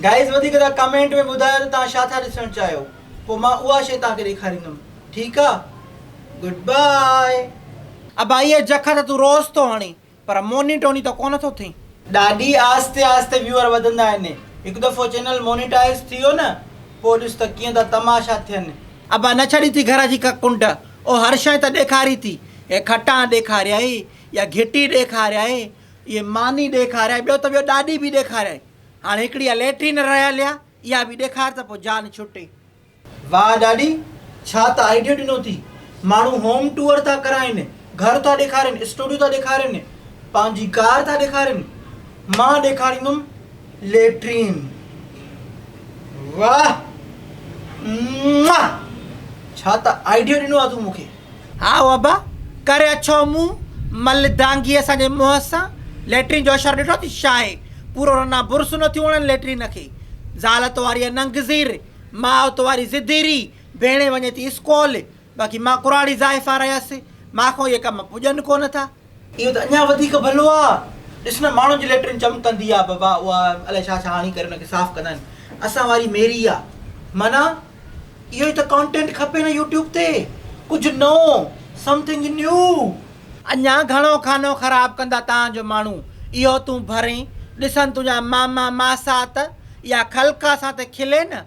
Guys وڌيڪ تان comment ۾ ٻڌايو ته تان ڇا ٿا ڏسڻ چاهيو پو مان اها شي تان کي ڏيکاريندم ٺيڪ آ گڊ باء. ابائي اي جکا ته تون روز ٿو هڻين پر موني ٽوني ته ڪونه ٿو ٿين. ڏاڏي آهستي آهستي ويوئر وڌندا آهن هڪ دفعو چينل مونيٽائز ٿي ويو نه پوء ڏس ته ڪيئن ٿا تماشا ٿين. ابا نه ڇڏي ٿي گهر جي ڪا ڪنڊ او هر شئي ته ڏيکاري ٿي هي کٽان ڏيکاريائي يا گهٽي ڏيکاريائي اهي ماني ڏيکاريائي ٻيو ته ٻيو ڏاڏي به ڏيکاريائي. هاڻي هڪڙي اها ليٽرين رهيل آ اها به ڏيکار ته پوء جان ڇٽي. واهه ڏاڏي ڇا ته آئيڊيو ڏنو ٿي ماڻهو هوم ٽوئر ٿا ڪرائين گهر ٿا ڏيکارين اسٽوڊيو ٿا ڏيکارين پنهنجي ڪار ٿا ڏيکارين مان ڏيکاريندم ليٽرين واهه ماهه ڇا ته آئيڊيو ڏنو آ تون مون کي. هائو ابا، ڪري اڇو منهن مل دانگي اسان جي منهن سان ليٽرين جو اشارو ڏٺو اٿئي شاهي، پورو رنا برس نه ٿيون وڻن ليٽرين کي. زال توهاري اهي ننگ زير، ماء توهاري زديري، ڀيڻي وڃي ٿي اسڪول، باقي مان ڪراڙي زائفا رهيس، مان کان اهي ڪم پڄن ڪونه ٿا. اهو ته اڃا وڌيڪ ڀلو آ. ڏس نه ماڻهن جي ليٽرين چمڪندي آ بابا اها الائي ڇا ڇا هڻي ڪري ان کي صاف ڪندا آهن. اسان واري ميري آ. معنيٰ اهو ئي ته ڪانٽينٽ کپي نه يوٽيوب تي ڪجهه نئون Something New. اڃا گهڻو خانو خراب ڪندا تان جو ماڻهو اهو تون ڀرين ڏسن تنهنجا ماما ماسات يا خلقا اسان تي کلين.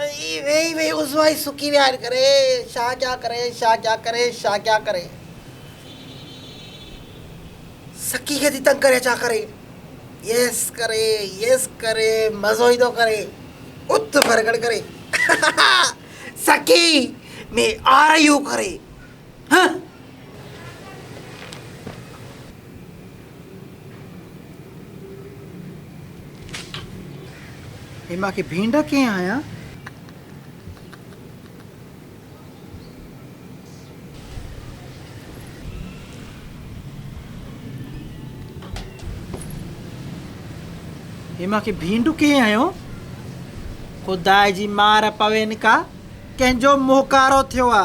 اي ويهي ويهي عضوائي سڪي ويا آهن ڪري شاهه ڪيا ڪري شاهه ڪيا ڪري شاهه ڪيا ڪري سڪي کي ٿي تنگ ڪري ڇا ڪري يس ڪري يس ڪري مزو ايندو ڪري اٿ ڀرڳڙ ڪري سڪي ۾ آر يو ڪري هي مان کي ڀينڊ ڪئين هنيا. هي مان کي ڀينڊ ڪئين هنيو. خدا جي مار پوين ڪا ڪنهن جو موهڪارو ٿيو آ.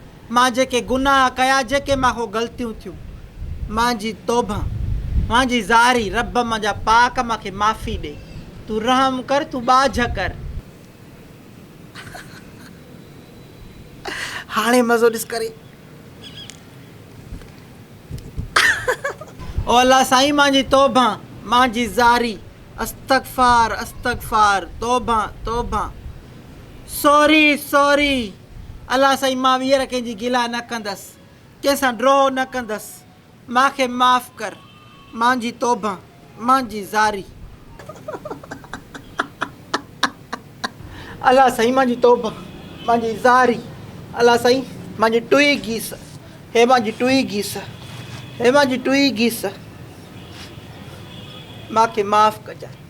مان جيڪي گناهه ڪيا جيڪي مان کان غلطيون ٿيون مان جي توبه مان جي زاري رب مان جا پاڪ مان کي معافي ڏي تون رحم ڪر تون ٻاجهه ڪر. هاڻي مزو ڏس ڪري. او الله سائين مان جي توبه مان جي زاري استغفار استغفار توبه توبه سوري سوري. الله سائين مان ويهر ڪنهن جي گلا نه ڪندس ڪنهن سان ڊوهه نه ڪندس مان کي معاف ڪر مان جي توبه مان جي زاري. الله سائين مان جي توبه مان جي زاري الله سائين مان جي ٽوئي گيس هي مان جي ٽوئي گيس هي مان جي ٽوئي گيس مان کي معاف ڪجانء.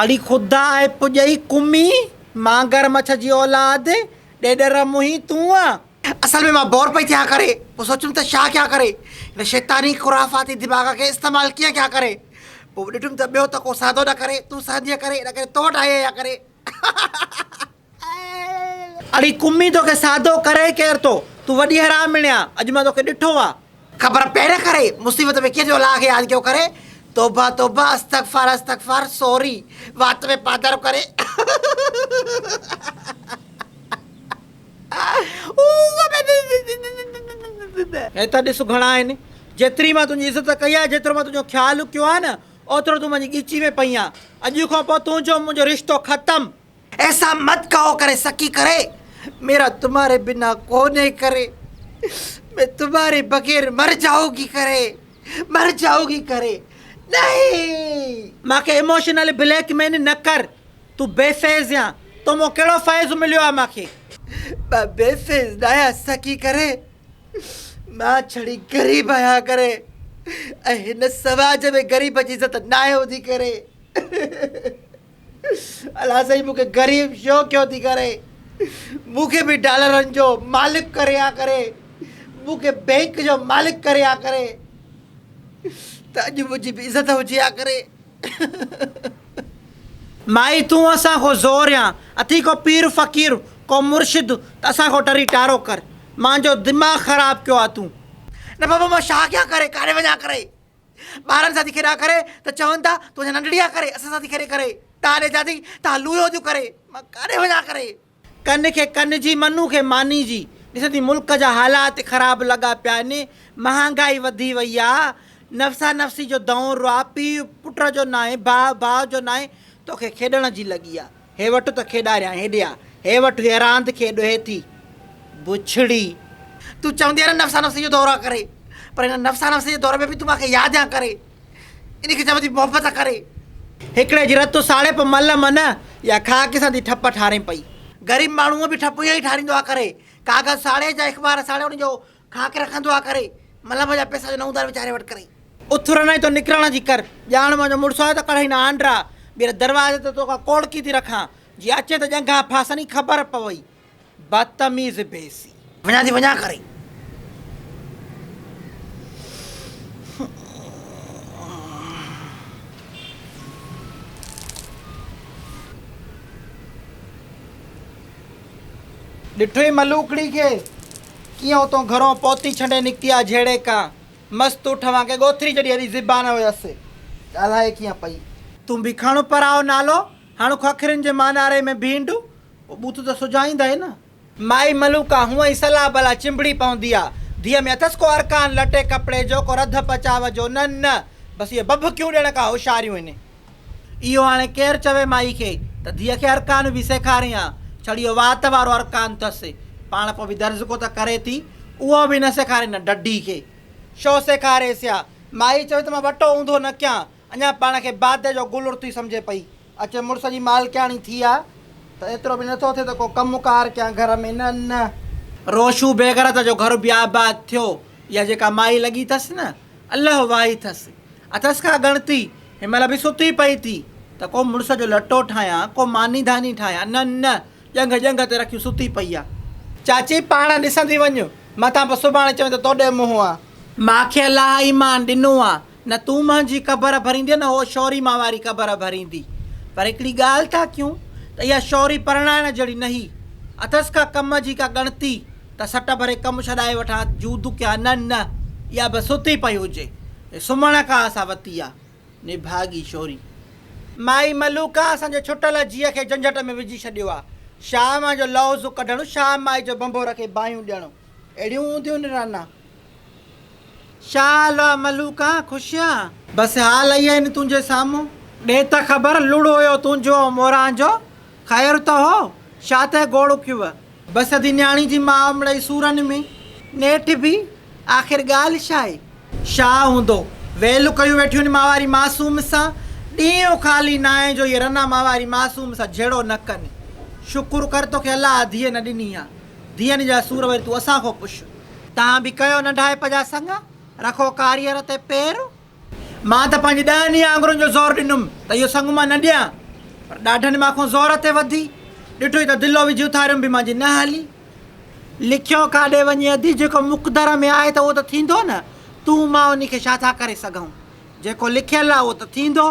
اڙي خدا اي پڄئي ڪمي مانگر مڇ جي اولاد ڏيڏر منهين تون آن اصل ۾ مان بور پئي ٿيان ڪري پوء سوچيم ته ڇا ڪيان ڪري هن شيطاني خرافاتي دماغ کي استعمال ڪيئن ڪيان ڪري پوء ڏٺم ته ٻيو ته ڪو سهندو نه ڪري تون سهندينء ڪري ان ڪري تو وٽ آئي آهيان ڪري هائي. اڙي ڪمي توکي سهندو ڪري ڪير ٿو تون وڏي حرامڻي آ اڄ مان توکي ڏٺو آ. خبر پئي نه ڪري مصيبت ۾ ڪير جو الله کي ياد ڪيو ڪري توبه توبه استغفار استغفار سوري وات ۾ پاڌرو ڪري. هي ته ڏس گهڻا آهن. جيتري مان تنهنجي عزت ڪئي آهي، جيترو مان تنهنجو خيال ڪيو آهي نه، اوترو تون منهنجي ڳچي ۾ پئين آهين. اڄ کان پوء تنهنجو ۽ منهنجو رشتو ختم. ايسا مت ڪهو ڪري سڪي ڪري، ميرا تمهاري بنا ڪونهي ڪري، مين تمهاري بغير مر جائون گي ڪري، مر جائون گي ڪري، نهين! مان کي ايموشنل بليڪ ميل نه ڪر. تون بي فيض يا تو مان ڪهڙو فيض مليو آهي مان کي. مان بي فيض ناهيان سکي ڪري مان ڇڙي غريب آهيان ڪري ۽ هن سماج ۾ غريب جي عزت ناهي هوندي ڪري الا سائين مون کي غريب ڇو ڪيو ٿي ڪري مون کي به ڊالرن جو مالڪ ڪري ها ڪري مون کي بينڪ جو مالڪ ڪري ها ڪري ته اڄ منهنجي به عزت هجي ها ڪري. مائي تون اسان کان زور يا اٿي ڪو پير فقير ڪو مرشد ته اسان کان ٽري ٽارو ڪر مانجو دماغ خراب ڪيو آ تون. نه بابا مان شا ڪيان ڪري ڪاڏي وڃان ڪري ٻارن سان ٿي کيڏان ڪري ته چون ٿا تون اڃا ننڍڙي آ ڪري اسان سان ٿي کيڏي ڪري تان ڏي چا ٿي تان لويو ٿيون ڪري مان ڪاڏي وڃان ڪري. ڪن کي ڪن جي منھن کي ماني جي ڏسندي ملڪ جا حالات خراب لڳا پيا آھن مھانگائي وڌي وئي آ نفسا نفسي جو دؤر آ پيء پٽ جو ناھي ڀاء ڀاء جو ناھي توکي کيڏڻ جي لڳي آ ھي وٺ ته کيڏاريان ھيڏي آ ھي وٺ ھيء راند کي ڏوھي ٿي بڇڙي تون چوندي آھين نه نفسا نفسي جو دؤر آ ڪري پر ھن نفسا نفسي جي دؤر ۾ به تون مانکي ياد آ ڪري. ان کي چئبو ٿي محبت ڪري. هڪڙي جي رت ساڙيپ مل من يا خاڪ سان ٿي ٺپ ٺارين پئي. غريب ماڻهو هونء به ٺپ اهو ئي ٺاريندو آ ڪري. ڪاغذ ساڙي جا اخبار ساڙي ان جو خاڪ رکندو آ ڪري. ملم جا پيسا جو نه اونڌار ويچاري وٽ ڪري. اٿرڻ ۽ تو نڪرڻ جي ڪر. ڄاڻ منهنجو مڙس آهي ته ڪڙهين آنڊرا. ٻيهر دروازي تي توکان ڪوڙڪي ٿي رکان. جي اچين ته ڄنگهان ڦاسن ئي خبر پوئي. بدتميز بيسي. وڃان ٿي وڃان ڪري. ڏٺوئي ملوڪڙي کي ڪيئن اتون گهرون پوتي ڇنڊي نڪتي آ جهڙي ڪا مست اٺ وانگي ڳوٿري جڏي اهڙي زبان هيس ڳالهائي ڪيئن پئي. تون ڀيکاڻو پرائو نالو هڻ خوکرين جي ماناري ۾ ڀينڊون او بت ته سجائيندا ئي نه. مائي ملوڪا هونء ئي صلاح بلاح چنبڙي پوندي آ. ڌيء ۾ اٿس ڪو ارڪان لٽي ڪپڙي جو، ڪو رڌ پچاء جو، نه نه، بس اهي ڀڀڪيون ڏيڻ کان هوشياريون هن. اهو هاڻي ڪير چوي مائي کي ته ڌيء کي ارڪان به سيکارين ها، ڇڙيو وات وارو ارڪان ٿس. پاڻ پوء به درزڪو ته ڪري ٿي، اهو به نه سيکارين نه ڊڍي کي. شو سيکاريس ها؟ مائي چوي ته مان ٻٽو اونڌو نه ڪيان، اڃا پاڻ کي بادي جو گل ارتي سمجهي پئي. اچي مڙس جي مالڪياڻي ٿي آ ته ايترو به نٿو ٿئي ته ڪو ڪم ڪار ڪيان گهر ۾ نه نه. روشو بيغرت جو گهر به آباد ٿيو. اها جيڪا مائي لڳي ٿس نه الله واهي ٿس. اٿس ڪا ڳڻتي. هن مهل به ستي پئي ٿي ته ڪو مڙس جو لٽو ٺاهيان ڪو ماني ڌاني ٺاهيان نه نه ڄنگهه ڄنگهه تي رکيون ستي پئي آ. چاچي پاڻ ڏسندي وڃ متان پوء سڀاڻي چوين ته توڏي منهن آ. ماکي الله ايمان ڏنو آ نه تون مانجي قبر ڀريندينء نه هوء شوري مان واري قبر ڀريندي. پر هڪڙي ڳالهه ٿا ڪيون ته اها شوري پرڻائڻ جهڙي نهي. اٿس ڪا ڪم جي ڪا ڳڻتي ته سٽ ڀري ڪم ڇڏائي وٺان جون دکيان نه نه اها به ستي پئي هجي. هي سمهڻ کان اسان وتي آ. نڀاڳي شوري. مائي ملوڪا اسان جي ڇٽل جيء کي جنجهٽ ۾ وجهي ڇڏيو آ. شام جو لوزو ڪڍڻ شام مائي جو بنبو رکي باهيون ڏيڻ. اهڙيون هونديون نرانا، شاهه الوا ملوڪان خوشيان. بس حال اهي آهن تنهنجي سامهون. ڏي ته خبر لڙ هيو تنهنجو ۽ موران جو، خير ته هو، شاهه تي گوڙ اکيوء. بس ادي نياڻي جي ماء مڙئي سورن ۾، نيٺ به آخر ڳالهه شاهي. شاهه هوندو، ويلون ڪيون ويٺيون آهن ماء واري معصوم سان، ڏينهن خالي ناهي جو اهي رنا ماء واري معصوم سان جهيڙو نه ڪن. شڪر ڪر توکي الله اڌيء نه ڏني آهي. دين جا سور وري تون اسان کان پڇ. تان به ڪيو ننڍائپ جا سڱ، رکو ڪاريئر تي پير. مان ته پنهنجي ڏهن ئي آڱرن جو زور ڏنم ته اهو سڱ مان نه ڏيان، پر ڏاڍن مان کون زور تي وڌي، ڏٺوئي ته دلو وجهي اٿاريم به مانجي نه هلي. لکيو ڪاڏي وڃي اڌي، جيڪو مقدر ۾ آهي ته اهو ته ٿيندو نه، تون مان انهي کي ڇا ٿا ڪري سگهون، جيڪو لکيل آهي اهو ته ٿيندو.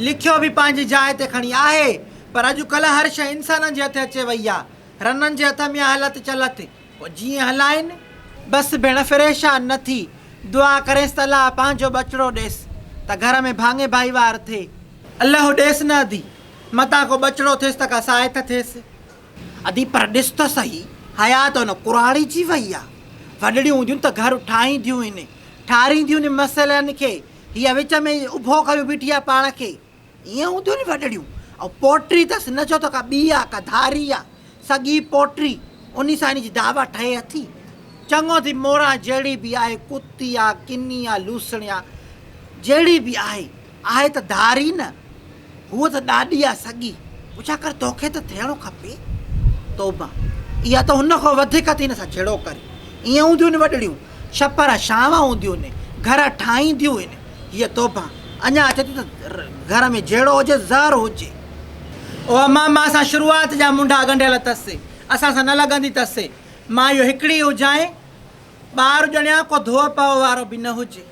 لکيو به پنهنجي جاء تي کڻي آهي، پر اڄ ڪلهه هر شيء انسانن جي هٿ اچي وئي آهي، رنن جي هٿ ۾ هلت چلت ڪو جيئن هلائين. بس ڀيڻ فريشان نه ٿي، دعا ڪرينس ته الله پنهنجو ٻچڙو ڏيس ته گهر ۾ ڀاڱي ڀائيوار ٿئي. الله ڏيس نه ادي، متان ڪو ٻچڙو ٿيس ته ڪا ساعت ٿيس. ادي پر ڏس ته سهي، حيات ان ڪراڙيجي وئي آ. وڏڙيون هونديون ته گهر ٺاهينديون هن، ٺارينديون هن مسئلن کي، هيء وچ ۾ ئي اڀو ڪيو بيٺي آ پاڻ کي. ائين هونديون ني وڏڙيون. ۽ پوٽري تس نه ڇو ته ڪا ٻي آ، ڪا ڌاري آ، سڳي پوٽري، انهي سان هن جي دعويٰ ٺهي اٿي. چڱو ٿي موران جهڙي به آهي، ڪتي آ، ڪني آ، لوسڻي آ، جهڙي به آهي، آهي ته ڌاري نه، هوء ته ڏاڏي آ سڳي، پڇا ڪر تو کي ته ٿيڻو کپي. توبه! اها ته هن کان وڌيڪ اٿي هن سان جهيڙو ڪري. ائين هونديون ني وڏڙيون. ڇپر شام هونديون هن گهر ٺاهينديون هن هيء توبه اڃا اچي ٿي ته گهر ۾ جهيڙو هجي زهر هجي. او امان مان سان شروعات جا منڍا ڳنڍيل اٿس اسان سان نه لڳندي اٿس مان اهو هڪڙي هجانء ٻار ڄڻيان ڪو ڌوء پوء وارو به نه هجي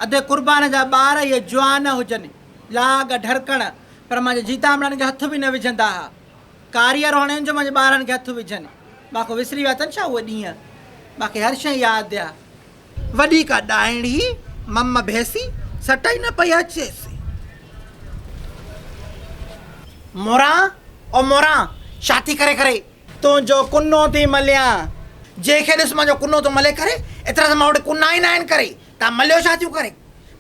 ادي قربان جا ٻار اهي جوان هجن لاڳ ڍرڪڻ پر مانجي جيتامڙن کي هٿ به نه وجهندا ها. ڪاريء روهڻين جو منهنجي ٻارن کي هٿ وجهن مان ڪو وسري ويا اٿن ڇا اهي ڏينهن؟ مان کي هر شيء ياد آ. وڏي ڪا ڏائڻي مم ڀيسي سٽ ئي نه پئي اچيس. موران او موران ڇا ٿي ڪري ڪري؟ تنهنجو ڪنو ٿي مليان. جنهن کي ڏس منهنجو ڪنو ٿو ملي ڪري. ايترا ته مان وٽ ڪنا ئي ناهن ڪري. تان مليو ڇا ٿيون ڪري؟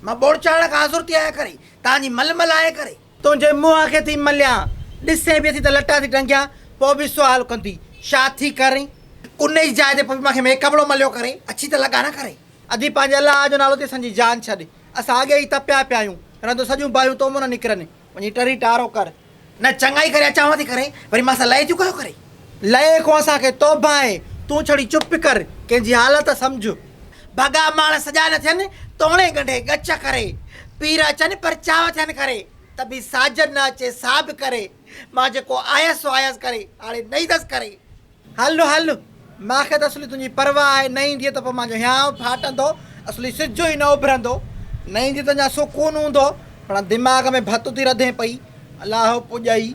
مان ٻوڙ چاڙهڻ کان آزر ٿي آهيان ڪري. تان جي مل ملهائي ڪري. تنهنجي منهن کي ٿي مليان. ڏسين به ٿي ته لٽا ٿي ٽنگيان. پوء به سوال ڪندي، ڇا ٿي ڪرين؟ ان ئي جاء تي پوء به مان کي ميڪ اپ لو مليو ڪري. اڇي ته لڳا نه ڪري. ادي پنهنجي الله جو نالو تي اسان جي جان ڇڏ. اسان اڳي ئي تپيا پيا آهيون. رهه تون سڄيون باهيون تو مون نه نڪرن. وڃي ٽري ٽارو ڪر. نه چڱائي ڪري اچانو ٿي ڪري. وري مان سان لئي ٿيون ڪيو ڪري. لئي کون اسان کي توبهه آهي، تون ڇڙي چپ ڪر، ڪنهن جي حالت سمجهه. ڀڳا ماڻس سڄا نه ٿين، توڻي ڳنڍي ڳچ ڪري. پير اچن پر چاهه ٿين کري، ته به ساجن نه اچي ساڀ ڪري. مان جيڪو آيس سو آيس ڪري، هاڻي نه ايندس ڪري. هل هل، مان کي ته اصلي تنهنجي پرواهه آهي، نه ايندينء ته پوء مان جو هيانء ڦاٽندو، اصلي سج ئي نه اڀرندو. نه ايندينء ته اڃا سڪون هوندو، پڻ دماغ ۾ ڀت ٿي رڌين پئي. الاهو پڄائي.